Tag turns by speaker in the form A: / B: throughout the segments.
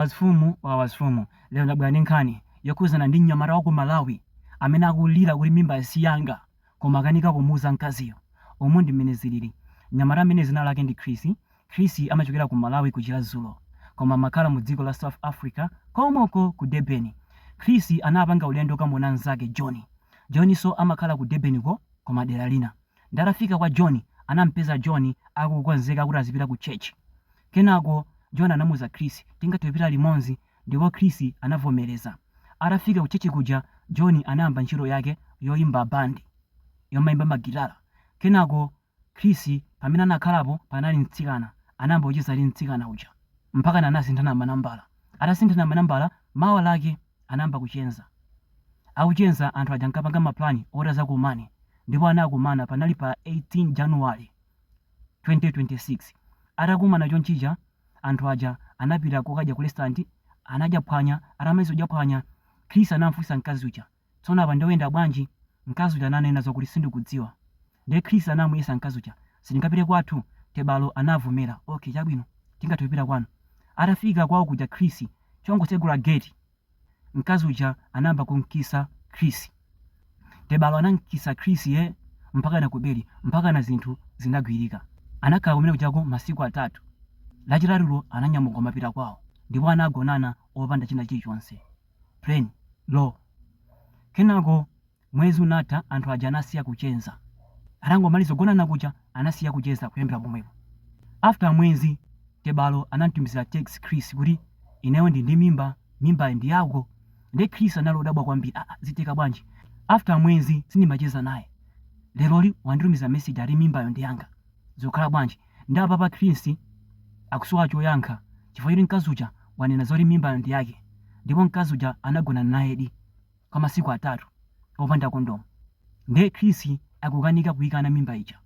A: Wazifumu wa wazifumu, lero ndabwera ndi nkhani yokhuzana ndi mnyamata wa ku Malawi amene akulira kuti mimba si yanga koma akanika kumuuza mkaziyo. Umu ndi mmene zilili. Mnyamata ameneyu dzina lake ndi Chris. Chris amachokera ku Malawi ku Chirazulo koma amakhala mu dziko la South Africa komko ku Durban. Chris anapanga ulendo okamuona mzake John. John so amakhala ku Durban ko koma dera lina. Nde atafika kwa John, anampeza John akukonzeka kuti azipita ku church. Kenako John anamuuza Chris tingathe kupita limodzi ndipo Chris anavomereza. Atafika ku church kuja John anayamba ntchito yake yoimba band yomaimba ma gitala. Kenako Chris pamene anakhalapo panali mtsikana anayamba kucheza ndi mtsikana uja mpakana anasinthana manambala. Atasinthana manambala mawa lake anayamba kucheza. Akucheza anthu aja ankapanga ma plan oti azakumane ndipo anakumana panali pa 18 January. 2026 atakumana chonchija anthu aja anapita kokadya ku restaurant anadya phwanya atamaliza kudya phwanya Chris anamfunsa mkazi uja tsono apa nde uyenda bwanji mkazi uja ananena zokuti sindikudziwa nde Chris anamufunsa mkazi uja sitingapite kwathu Tebalo anavomera ok chabwino tingathe kupita kwanu atafika kwawo kuja Chris akungotsegula gate Mkazi uja anayamba kum'kisa Chris. Tebalo anam'kisa Chris yee mpakana kubedi mpakana zinthu zinagwirika. Anakhala kumene kujako masiku atatu. Lachitatulo ananyamuka kumapita kwawo ndipo anagonana opanda china chilichonse. Plain. Raw. Kenako. Mwezi unatha anthu aja anasiya kucheza. Atangomaliza kugonana kuja anasiya kucheza kuyambila pomwepo. After mwezi Tebalo anamutumizila text Chris kuti ineyo ndili ndi mimba, mimbayi ndi yako. Nde Chris anali odabwa kwambiri aah zitheka bwanji after mwezi sindimacheza naye leroli wanditumizila message ati mimbayo ndi yanga zikukhala bwanji? Nde apapa Chris akusowa choyankha chifukwa choti mkazi uja wanena zoti mimbayo ndi yake ndipo mkazi uja anagonana nayedi. kwa masiku atatu opanda kondomu nde Chris akukanika kuikana mimba ija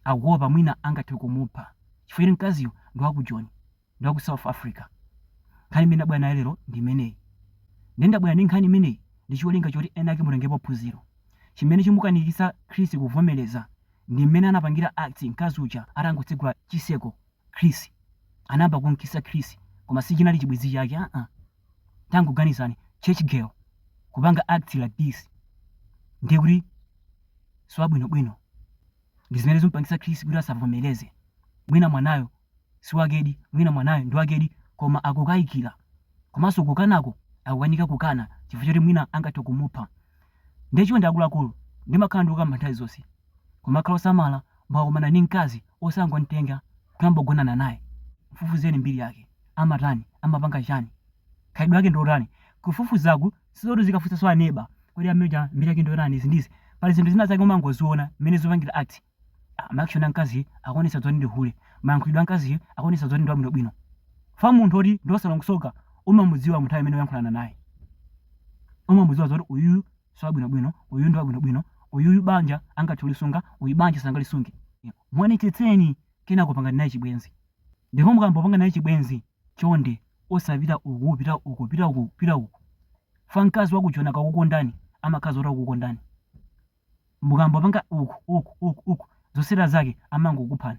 A: akuopa mwina angathe kumupha chifukwa choti mkaziyo ndi wa ku Joni ndi wa ku South Africa. Nkhani imene ndabwera nayo lero ndi imeneyi. Nde ndabwera ndi nkhani imeneyi ndi cholinga choti enaake mutengepo phunziro. Chimene chimukanikitsa Chris kuvomereza ndi mmene anapangira act mkazi uja atangotsegula chitseko Chris. Anayamba kum'kisa Chris koma sichinali chibwenzi chake aa. tangoganizani church girl kupanga act like this ndiye kuti siwabwinobwino ndi zimene zimpangisa Chris kuti asavomereze mwina mwanayo siwakedi mwina mwanayo ndi wakedi koma akukayikira komanso kukanako akukanika kukana chifukwa choti mwina angathe kumupha ndiye chonde akuluakulu ndimakhala ndikukamba nthawi zonse kumakhala osamala mwakumana ndi mkazi osangomtenga kuyamba kugonana naye mfufuzeni mbiri yake amatani? Amapanga chani? Khalidwe lake ndilotani? Kufufuzaku sizoti uzikafunsanso a neba kodi amene uja mbiri yake ndiyotani izi ndi izi. Pali zinthu zina zake umangoziona mmene zikupangira act. Ma action a mkaziyu akuonetsa zoti ndi hule. Mayankhulidwe a mkaziyu akuonetsa zoti ndi wabwinobwino. Chifukwa munthu woti ndi wosalongosoka umamudziwa munthawi imene ukuyankhulana naye. Umamudziwa zoti uyuyu siwabwinobwino, uyu ndi wabwinobwino, uyuyu banja angathe kulisunga, uyu banja sangalisunge. Muonetsetseni kenako pangani naye chibwenzi. Ndipo mukamapanga naye chibwenzi, chonde osapita uku pita uko pita uku pita uku chifukwa mkazi wa ku Joni akakukondani amakhala zoti akukondani. Mukamapanga uku uku uku uku zotsatira zake amangokuphani.